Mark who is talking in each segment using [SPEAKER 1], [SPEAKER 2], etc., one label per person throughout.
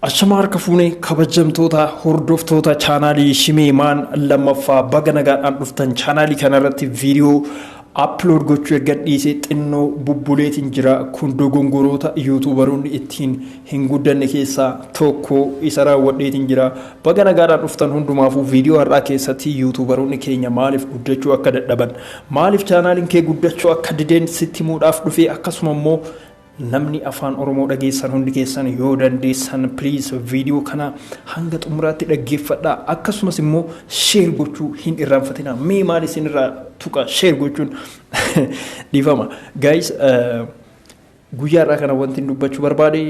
[SPEAKER 1] Ashama harka fuunee kabajamtoota hordoftoota chaanaalii Shimee Maan lammaffaa baga nagaadhaan dhuftan chaanaalii kanarratti viidiyoo aplood gochuu erga dhiisee xinnoo bubbuleetiin jira kun dogongoroota yuutuubaroonni ittiin hin guddanne keessaa tokko isa raawwadheetiin jira baga nagaadhaan dhuftan hundumaafuu viidiyoo har'aa keessatti yuutuubaroonni keenya maaliif guddachuu akka dadhaban maaliif chaanaaliin kee guddachuu akka dideen sitti muudhaaf dhufee akkasuma immoo Namni afaan oromoo dhageessan hundi keessan yoo dandeessan please video kana hanga xumuraatti dhaggeeffadhaa akkasumas immoo share gochuu hin irraanfatinaa mee maal isin irraa tuqa share gochuun dhiifama guys guyyaa irraa kana wanti hin dubbachuu barbaade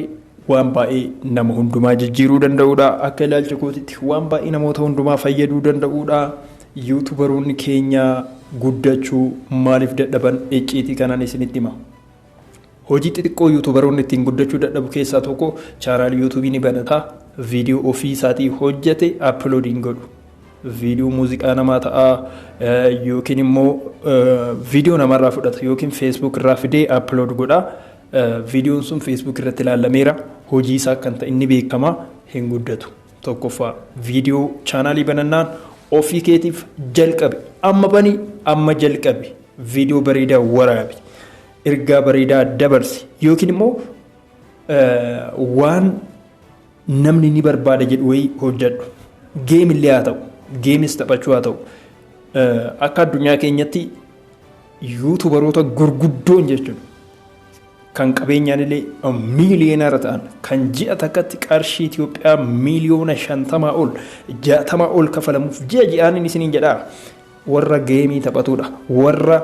[SPEAKER 1] waan baay'ee nama hundumaa jijjiiruu danda'uudha akka ilaalcha kootitti waan baay'ee namoota hundumaa fayyaduu danda'uudha yuutubaroonni keenya guddachuu maaliif dadhaban icciitii kanaan isinitti hima. Hojii xixiqqoo yuutuubaroonni ittiin guddachuu dadhabu keessaa tokko chaanaal yuutuubii ni banata, viidiyoo ofii isaatii hojjate upload hin godhu. Viidiyoo muuziqaa namaa ta'a yookiin immoo viidiyoo namarraa fudhata yookiin feesbuuk irraa fidee upload godha. Viidiyoon sun feesbuuk irratti ilaalameera. Hojii isaa kan ta'e inni beekama hin guddatu. Tokkoffaa viidiyoo chaanaalii banannaan ofii keetiif jalqabi. Amma bani amma jalqabi. Viidiyoo bareedaa waraabi. Ergaa bareedaa dabarsi. Yookiin immoo waan namni ni barbaada jedhu wayii hojjedhu. Geemillee haa ta'u. Geemis taphachuu haa ta'u. Akka addunyaa keenyatti yuutubaroota gurguddoon jechuudha. Kan qabeenyaan illee miiliyoonara ta'an kan ji'a takkatti qarshii Itoophiyaa miiliyoona shantamaa ol jaatamaa ol kafalamuuf ji'a ji'aan isiniin jedhaa. Warra geemii taphatudha. Warra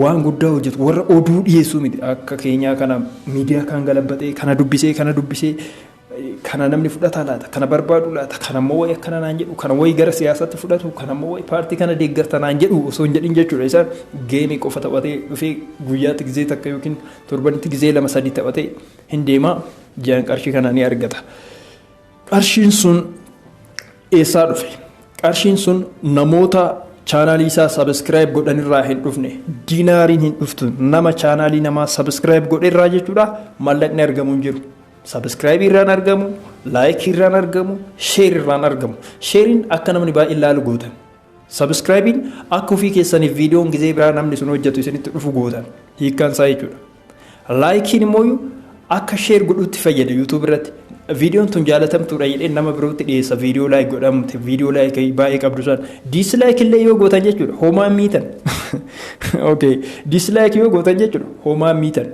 [SPEAKER 1] waan guddaa hojjetu, warra oduu dhiyeessuu miti. Akka keenyaa kana miidiyaa kaan galabbaxee, kana dubbisee, kana dubbisee, kana namni fudhataa laata, kana barbaadu laata, kana immoo wayi akkana naan jedhu, kana wayi gara siyaasaatti fudhatu, kana immoo wayi paartii kana deeggarta naan jedhu osoo hin jedhin jechuudha. Isaan geemii qofa taphatee dhufee guyyaatti gizee takka yookiin torbanitti gizee lama sadii taphatee hin deema. Ji'aan qarshii kana ni argata. Qarshiin sun eessaa dhufe? Qarshiin sun namoota chaanaalii isaa sabiskiraayib godhan irraa hin dhufne. Diinaariin hin dhuftu. Nama chaanaalii namaa sabiskiraayib godhe irraa jechuudha mallaqni argamu hin jiru. Sabiskiraayibii irraan argamu, laayikii irraan argamu, sheer irraan argamu. Sheeriin akka namni baay'ee laalu gootan. Subscribe'n akka ofii keessaniif videon gizee biraa namni sun hojjatu isinitti dhufu gootan hiikkaan isaa jechuudha. Like'n immooyu akka share godhuutti fayyada YouTube irratti. Videon tun jaalatamtuudha jedhee nama birootti dhiyeessa video like godhamte video like baay'ee qabdu san dislike illee yoo gootan jechuudha homaa miitan. Okay dislike yoo gootan jechuudha homaa miitan.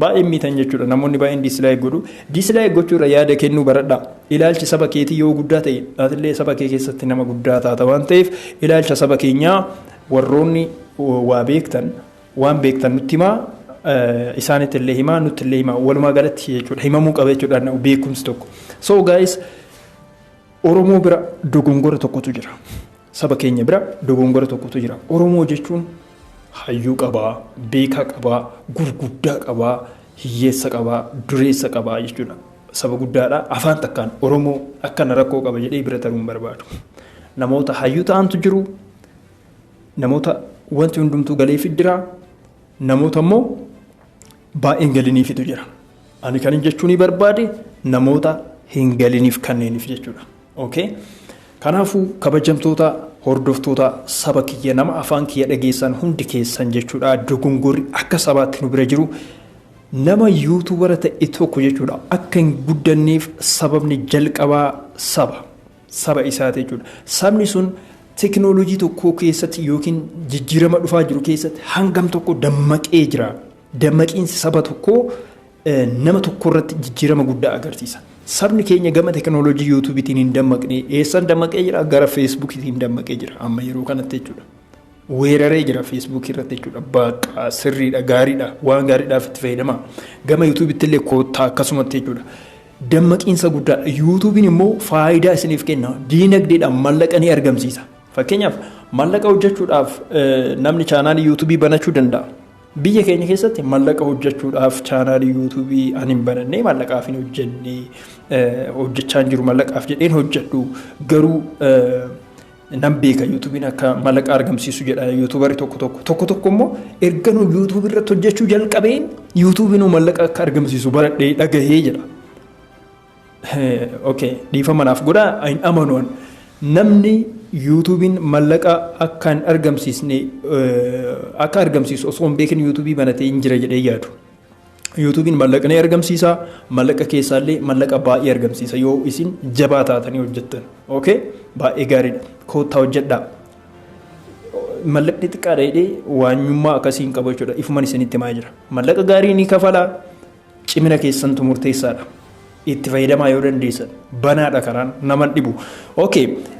[SPEAKER 1] Baay'een miitan jechuudha namoonni baay'een diislaayik godhu diislaayik gochuurra yaada kennuu baradha ilaalchi saba keetii yoo guddaa ta'e atillee saba kee keessatti nama guddaa taata waan ta'eef ilaalcha saba keenyaa warroonni waa beektan waan beektan nutti himaa isaanitti illee himaa nutti illee himaa walumaa galatti jechuudha himamuu qaba jechuudha beekumsi tokko so guys Oromoo bira dogongora tokkotu jira. Saba keenya bira dogongora tokkotu jira. Oromoo jechuun hayyuu qaba, beekaa qaba, gurguddaa qaba, hiyyeessa qaba, dureessa qaba jechuudha. Saba guddaadha. Afaan takkaan Oromoo akkana rakkoo qaba jedhee bira taruu hin barbaadu. Namoota hayyuu ta'antu jiru. Namoota wanti hundumtuu galeefi jira. Namoota immoo baay'een galiniifitu jira. Ani kan hin jechuunii barbaade namoota hin galiniif kanneeniif jechuudha. Ok kanaafu kabajamtoota hordoftoota saba kiyya nama afaan kiyya dhageessan hundi keessan jechuudha dogongorri akka sabaatti nu bira jiru nama yuutubara ta'e tokko jechuudha akka hin guddanneef sababni jalqabaa saba saba isaati jechuudha sabni sun teknoolojii tokkoo keessatti yookiin jijjiirama dhufaa jiru keessatti hangam tokko dammaqee jira Dammaqiinsi saba tokkoo nama tokko irratti jijjiirama guddaa agarsiisa. Sabni keenya gama tekinooloojii yuutuubiitiin hin dammaqne eessan dammaqee jira gara feesbuukiitiin dammaqee jira amma yeroo kanatti jechuudha. Weeraree jira feesbuukii irratti jechuudha baaqaa sirriidha gaariidha waan gaariidhaaf itti fayyadama gama yuutuubiitti illee koottaa akkasumatti jechuudha. Dammaqiinsa guddaadha yuutuubiin immoo faayidaa isiniif kenna diinagdeedhaan mallaqa ni argamsiisa. Fakkeenyaaf mallaqa hojjechuudhaaf namni chaanaalii yuutuubii banachuu danda'a. Biyya keenya keessatti mallaqa hojjechuudhaaf chaanaalii yuutuubii ani hin banannee mallaqaaf hin hojjenne hojjechaa hin jiru mallaqaaf jedheen hojjedhu garuu nan beeka yuutuubiin akka mallaqa argamsiisu jedha yuutuubarri tokko tokko tokko tokko immoo erga nu yuutuubii irratti hojjechuu jalqabeen yuutuubiin mallaqa akka argamsiisu baradhee dhagahee jedha. ok dhiifama naaf godha hin amanu an namni yuutuubiin mallaqa akka hin argamsiisne akka argamsiisu osoo hin beekin yuutuubii banatee hin jira jedhee yaadu. Yuutuubiin mallaqa ni argamsiisa mallaqa keessaallee mallaqa baay'ee argamsiisa yoo isin jabaa taatanii hojjettan ok baay'ee gaariidha koottaa hojjedhaa. Mallaqni xiqqaadha jedhee waanyummaa akkasii hin qabu jechuudha ifuman isinitti himaa jira mallaqa gaarii ni kafala Cimina keessantu murteessaadha. Itti fayyadamaa yoo dandeessan banaadha karaan naman dhibu. Ok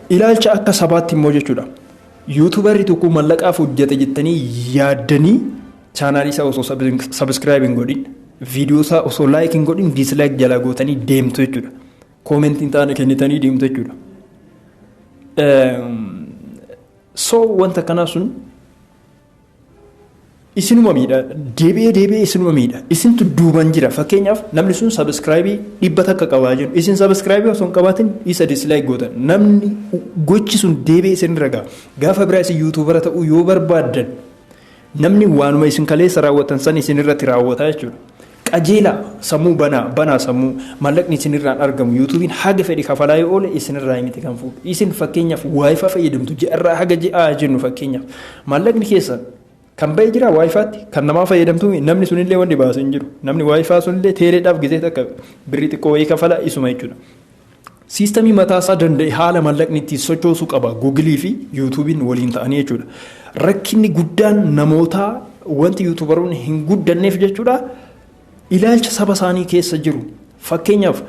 [SPEAKER 1] ilaalcha akka sabaatti immoo jechuudha. Yuutubarri tokko mallaqaaf hojjete jettanii yaaddanii chaanaalii isaa osoo sabiskiraayib hin godhin viidiyoo isaa osoo laayik hin godhin diislaayik jalaa gootanii deemtu jechuudha. Koomentiin taane kennitanii deemtu jechuudha. So wanta kanaa sun isinuma miidha deebi'ee deebi'ee isinuma miidha isintu duuban jira fakkeenyaaf namni sun sabiskiraayibii dhibba takka qabaa jiru isin sabiskiraayibii osoo hin qabaatin isa dislaayik gootan namni gochi sun deebi'ee isin irra ga'a gaafa biraa isin yuutuubara ta'uu yoo barbaaddan namni waanuma isin kaleessa raawwatan san isin irratti raawwata jechuudha. Qajeelaa! Sammuu banaa! Banaa sammuu! Maallaqni isin irraan argamu YouTube'n haga fedhe kafalaa yoo oole isin irraayi miti kan fuudhu. Isin fakkeenyaaf Wi-Fi fayyadamtu ji'a irraa haga ji'aa haa jennu fakkeenyaaf. Maallaqni keessan Kan ba'e jiraa Wi-Fi'tti? Kan namaa fayyadamtuumi? Namni sun illee wanni baase hin jiru. Namni Wi-Fi sun illee teeleedhaaf gisee takka birrii xiqqoo wayii kafala isuma jechuudha. Siistamii mataa isaa danda'e haala mallaqni ittiin sochoosu qaba. Gugilii fi yuutuubiin waliin ta'anii jechuudha. Rakkinni guddaan namootaa wanti yuutuubaroonni hin guddanneef jechuudha ilaalcha saba isaanii keessa jiru. Fakkeenyaaf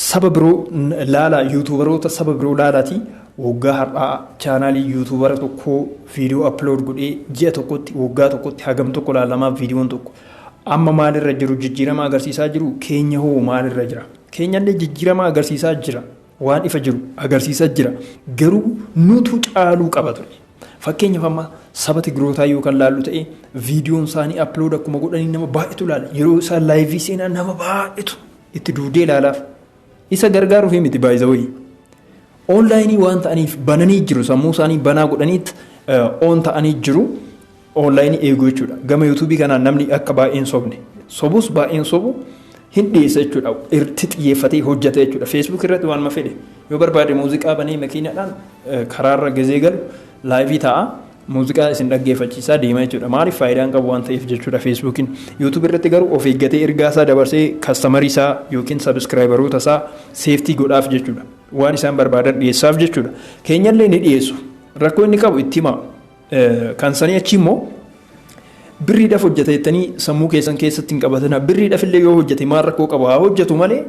[SPEAKER 1] saba biroo laalaa yuutuubaroota saba biroo laalaatii waggaa har'aa chaanaalii yuutuubara tokkoo viidiyoo aplood godhee ji'a tokkotti waggaa tokkotti hagam tokko laalamaa viidiyoon tokko. Amma maalirra jiru jijjiirama agarsiisaa jiru keenya hoo maalirra jira? keenyallee jijjiiramaa agarsiisaa jira. Waan ifa jiru agarsiisa jira. Garuu nutu caaluu qaba ture. Fakkeenyaaf amma saba Tigrootaa yoo kan laallu ta'e viidiyoon isaanii aplood akkuma godhanii nama baay'eetu ilaala. Yeroo isaan laayivii seenaa nama baay'eetu itti duudee ilaalaaf. Isa gargaaruuf miti baay'isawayii. Online waan ta'aniif bananii jiru sammuu isaanii banaa godhaniit on ta'anii jiru online eeguu jechuudha gama YouTube kanaan namni akka baay'een sobne sobus baay'een sobu hin dhiyeessa jechuudha irratti xiyyeeffatee hojjata jechuudha Facebook irratti waan mafedhe yoo barbaade muuziqaa banee makiinadhaan karaarra gizee galu laayivii ta'a muuziqaa isin dhaggeeffachiisaa deema jechuudha maaliif faayidaan qabu waan ta'eef jechuudha feesbuukiin yuutuubii irratti garuu of eeggatee ergaa isaa dabarsee kastamarii isaa yookiin sabiskiraayibaroota isaa seeftii godhaaf jechuudha. waan isaan barbaadan dhiyeessaaf jechuudha. Keenyallee ni dhiyeessu. Rakkoo inni qabu itti himaa. Kan sanii achi immoo birriidhaaf hojjeta jettanii sammuu keessan keessatti hin qabatina. Birriidhaaf illee yoo hojjete maal rakkoo qaba haa hojjetu malee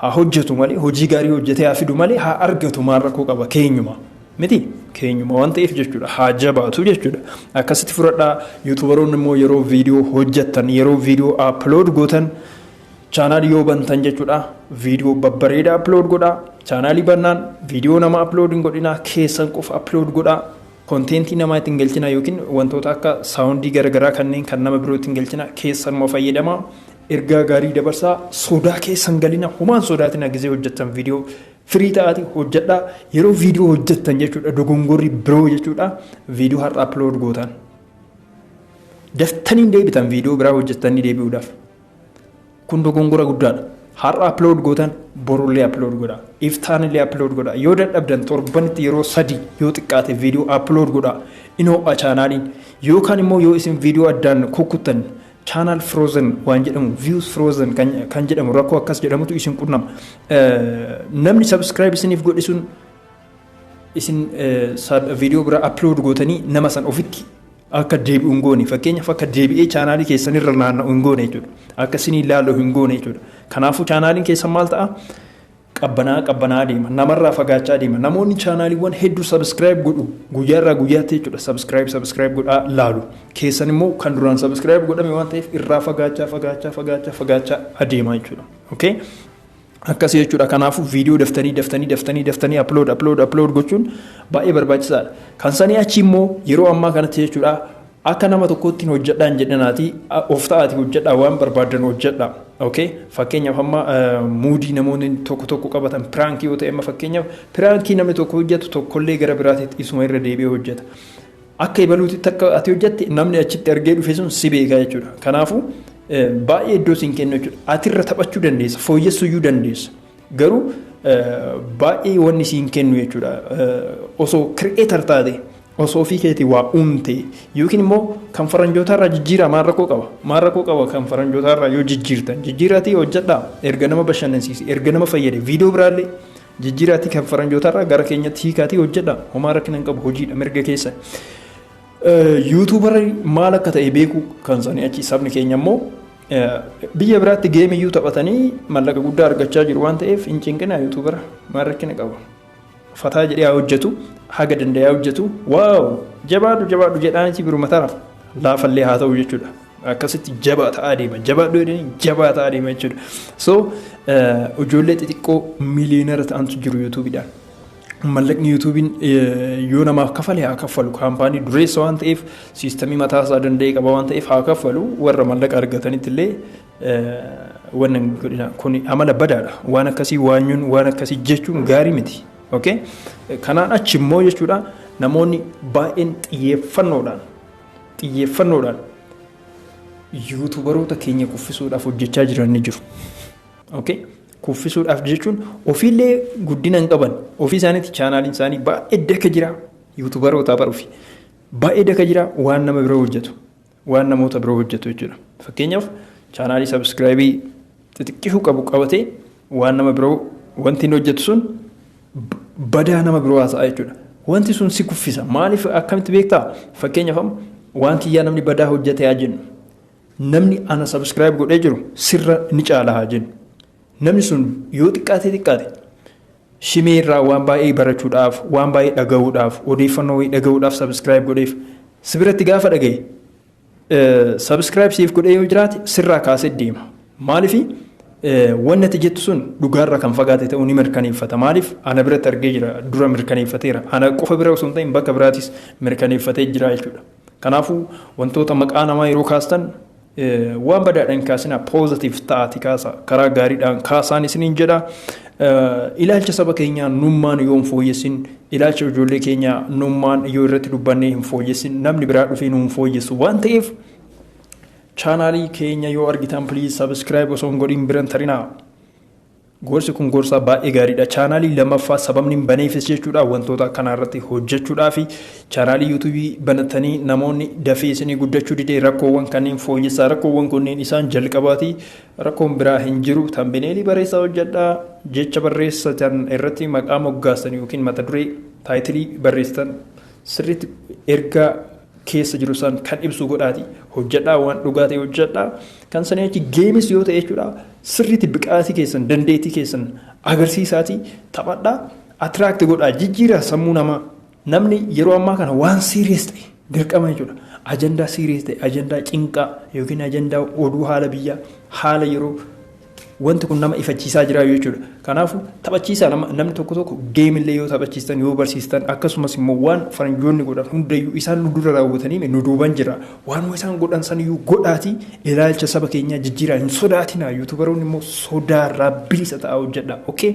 [SPEAKER 1] haa hojjetu malee hojii gaarii hojjetee haa fidu malee haa argatu maal rakkoo qaba keenyuma. Miti keenyuma waan ta'eef jechuudha haa jabaatu jechuudha. Akkasitti fudhadhaa yuutubaroonni immoo yeroo viidiyoo hojjettan yeroo viidiyoo aplood gootan Chaanaali yoo bantan jechuudha viidiyoo babbareedaa upload godhaa. Chaanaalii bannaan viidiyoo nama upload hin godhinaa keessan qofa upload godhaa. Konteentii namaa ittiin galchinaa yookiin wantoota akka saawundii garagaraa kanneen kan nama biroo ittiin galchinaa keessanuma fayyadamaa. Ergaa gaarii dabarsaa sodaa keessan galina homaan sodaatina gizee hojjettan viidiyoo firii ta'aati hojjedhaa. Yeroo viidiyoo hojjettan jechuudha dogongorri biroo jechuudha viidiyoo har'a upload gootan. Daftanii hin deebitan viidiyoo biraa hojjettanii deebi'uudhaaf. kun dogongora guddaadha har'a upload gootan borullee upload godha iftaanillee upload godha yoo dadhabdan torbanitti yeroo sadii yoo xiqqaate viidiyoo upload godha in ho'a chaanaaliin yookaan immoo yoo isin viidiyoo addaan kukkuttan chaanaal frozen waan jedhamu views frozen kan, kan jedhamu rakkoo akkas jedhamutu isin qunnama namni subscribe isiniif godhisuun Isin video bira upload gootanii nama san ofitti akka deebi'u hin goone fakkeenyaaf akka deebi'ee chaanaalii keessan irra naanna'u hin goone jechuudha. Akka isin ilaalu hin goone jechuudha. Kanaafuu chaanaaliin keessan maal ta'a? Qabbanaa qabbanaa deema. Namarraa fagaachaa deema. Namoonni chaanaaliiwwan hedduu sabiskiraayib godhu guyyaarraa guyyaatti jechuudha. Sabiskiraayib sabiskiraayib godhaa laalu. Keessan immoo kan duraan sabiskiraayib godhame waan ta'eef irraa fagaachaa fagaachaa fagaachaa fagaachaa adeema jechuudha. Okay? Akkasi jechuudha kanaafu video daftanii daftanii daftanii daftanii upload upload upload gochuun baay'ee barbaachisaadha. Kan sanii achi immoo yeroo ammaa kanatti jechuudha akka nama tokkoottiin hojjedhaa hin jedhinaatii of ta'aati hojjedhaa waan barbaaddan hojjedhaa. Okay? Fakkeenyaaf amma muudii namoonni tokko tokko qabatan piraankii yoo ta'e amma fakkeenyaaf piraankii namni tokko hojjetu tokkollee gara biraatitti isuma irra deebi'ee hojjeta. Akka ebaluutitti akka ati hojjatte namni achitti argee dhufe sun si beeka jechuudha. Kanaafuu baay'ee iddoo siin kennu jechuudha. Atirra taphachuu dandeessa, fooyyessuyyuu dandeessa. Garuu baay'ee wanni siin kennu jechuudha. Osoo kireetar taate, osoo ofii keetii waa uumte yookiin immoo kan faranjootaarraa jijjiiraa maal rakkoo qaba? Maal rakkoo qaba kan faranjootaarraa yoo jijjiirtan? Jijjiiraatii hojjadhaa erga nama bashannansiise, erga nama fayyade, viidiyoo biraallee Jijjiraatii kan faranjootarraa gara keenyatti hiikaatii hojjedha. Homaa rakkina hin qabu hojiidha mirga keessa. Yuutuubarri maal akka ta'e beekuu kan sanii achi sabni keenya immoo biyya biraatti geemiyyuu taphatanii mallaqa guddaa argachaa jiru waan ta'eef hin cinqina yuutuubara maal rakkina qaba. Fataa jedhee haa hojjetu haga danda'ee haa hojjetu waaw jabaadhu jabaadhu jedhaanitii biruma taraaf laafallee haa ta'u jechuudha. akkasitti jabaa ta'aa deema jabaadhu jedhanii jabaa ta'aa deema jechuudha so ijoollee xixiqqoo miliyoonara ta'antu jiru yuutuubiidhaan mallaqni yuutuubiin yoo namaaf kafale haa kaffalu kaampaanii dureessa waan ta'eef siistamii mataa isaa danda'ee qaba waan ta'eef haa kaffalu warra mallaqa argatanitti illee wanna godhina kun amala badaadha waan akkasii waanyuun waan akkasii jechuun gaarii miti okay kanaan achi immoo jechuudha namoonni baay'een xiyyeeffannoodhaan xiyyeeffannoodhaan yuutubaroota keenya kuffisuudhaaf hojjechaa jiran ni jiru. Okay? Kuffisuudhaaf jechuun ofiillee guddina hin qaban. Ofii isaaniitti chaanaaliin isaanii baay'ee daka jira. Yuutubarootaa baruufi. Baay'ee daka jira waan nama biroo hojjetu. Waan namoota biroo hojjetu jechuudha. Fakkeenyaaf chaanaalii sabiskiraayibii xixiqqishuu qabu qabatee waan nama biroo wanti inni hojjetu sun badaa nama biroo haasa'aa jechuudha. Wanti sun si kuffisa. Maaliif akkamitti beektaa? Fakkeenyaaf amma waan kiyyaa namni badaa hojjete haa jennu. Namni ana sabiskiraayib godhee jiru sirra ni caala haa jennu. Namni sun yoo xiqqaatee xiqqaate shimee irraa waan baay'ee barachuudhaaf, waan baay'ee dhaga'uudhaaf, odeeffannoo wayii dhaga'uudhaaf sabiskiraayib godheef si biratti gaafa dhaga'e Subscribe siif godhee yoo jiraate sirraa kaasee deema. Maaliif wanni ati jettu sun dhugaarra kan fagaate ta'uu ni mirkaneeffata. Maaliif ana biratti argee jira dura mirkaneeffateera. Ana qofa bira osoo hin ta'in bakka biraatis mirkaneeffatee jira jechuudha. Kanaafuu wantoota maqaa namaa yeroo kaastan waan badaadhaan kaasinaa poozatiif ta'aati kaasa karaa gaariidhaan kaasaan isiniin jedha Ilaalcha saba keenyaa nummaan yoo hin fooyyessin, ilaalcha ijoollee keenyaa nummaan yoo irratti dubbannee hin fooyyessin, namni biraa dhufee nu hin fooyyessu waan ta'eef chaanaalii keenya yoo argitan please subscribe osoo hin godhin biran tarinaa. Gorsi kun gorsaa baay'ee gaariidha. Chaanaalii lammaffaa sababni hin baneefis jechuudha wantoota akkanaa irratti hojjechuudhaa fi chaanaalii yuutuubii banatanii namoonni dafee isinii guddachuu didee rakkoowwan kanneen fooyyessaa rakkoowwan kunneen isaan jalqabaati Rakkoon biraa hin jiru. Tambineelii bareessaa hojjadhaa. Jecha barreessitan irratti maqaa moggaastan yookiin mata duree, taayitilii, barreessitan sirriitti ergaa keessa jiru san kan ibsu godhaati hojjadhaa waan dhugaa ta'e hojjadhaa. Kan sanii achi geemis yoo ta'e jechuudha sirriitti biqaatii keessan dandeettii keessan agarsiisaatii taphadhaa atiraakti godhaa jijjiiraa sammuu namaa. Namni yeroo ammaa kana waan serious ta'e dirqama jechuudha. Ajandaa serious ta'e, ajandaa cinqaa yookiin ajandaa oduu haala biyyaa, haala yeroo wanti kun nama ifachiisaa jira jechuudha. Kanaafuu taphachiisaa nama namni tokko tokko geemillee yoo taphachiistan yoo barsiistan akkasumas immoo waan faranjoonni godhan hundayyuu isaan nu dura raawwatanii nu duuban jira. Waanuma isaan godhan saniyyuu godhaatii ilaalcha saba keenyaa jijjiiraa hin sodaatinaa. Yuutubaroonni immoo sodaarraa bilisa ta'aa hojjedhaa. Okay?